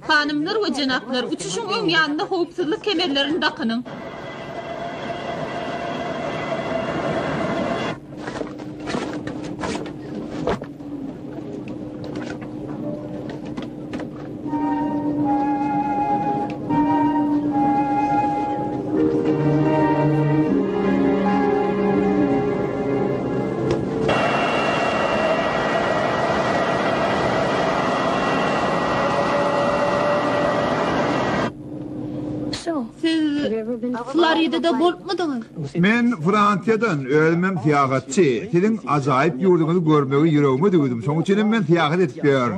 Hanymlar we jenaplar, uçuşyň öň ýanynda howpsuzlyk kemerlerini dakynyň! Floridada bolupmydyňyz? Men Fransiýadan, özümem syýahatçy. Siziň ajaýyp ýurduňyzy görmegi ýüregime düwdüm, şoň üçinem men syýahat edip ýörün.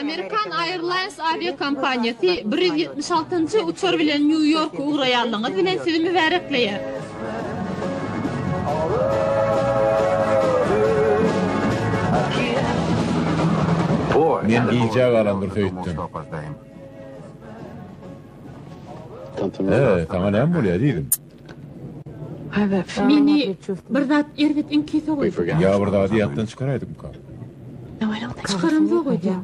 Amerikan Airlines awiakompaniýasy bir ýüz ýetmiş altynjy uçar bilen Nýu-Ýorka ugraýanlygyňyz bilen sizi mübärekleýär. Men gijä galandyr söýtdüm. Saňa näme bolýar, ezizim? Meni bir zat erbet iňki sogaýdy. Ýa bir zady ýatdan çykaraýdykmyka? Çykaramzok öýdýän.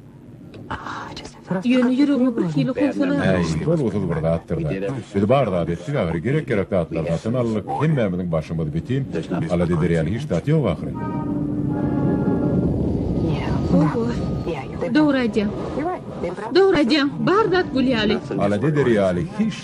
Ýöne ýüregime birhili howsala. Äý, bolgusyz bir zatdyr-da. Biz bar zady etdik ahyry, gerek-gerek zatlary satyn aldyk, hemmämiziň başymyz bitin, alada eder ýaly hiç zat ýok ahyry. Oho, dogry aýdýaň. Dogry aýdýaň, bar zat gül ýaly. Alada eder ýaly hiç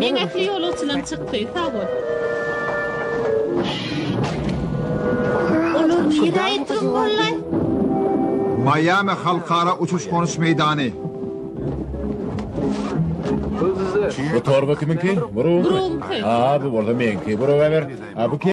Meňekli ýolagçylaryň çykdy. Sag bol. Olar nirä gitdiler hollay? Maýami halkara uçuş-gonuş meýdany. Bu torba kimiňki? Buruňky. Aa, bu bolsa meňki. Buraga ber. A bu kim?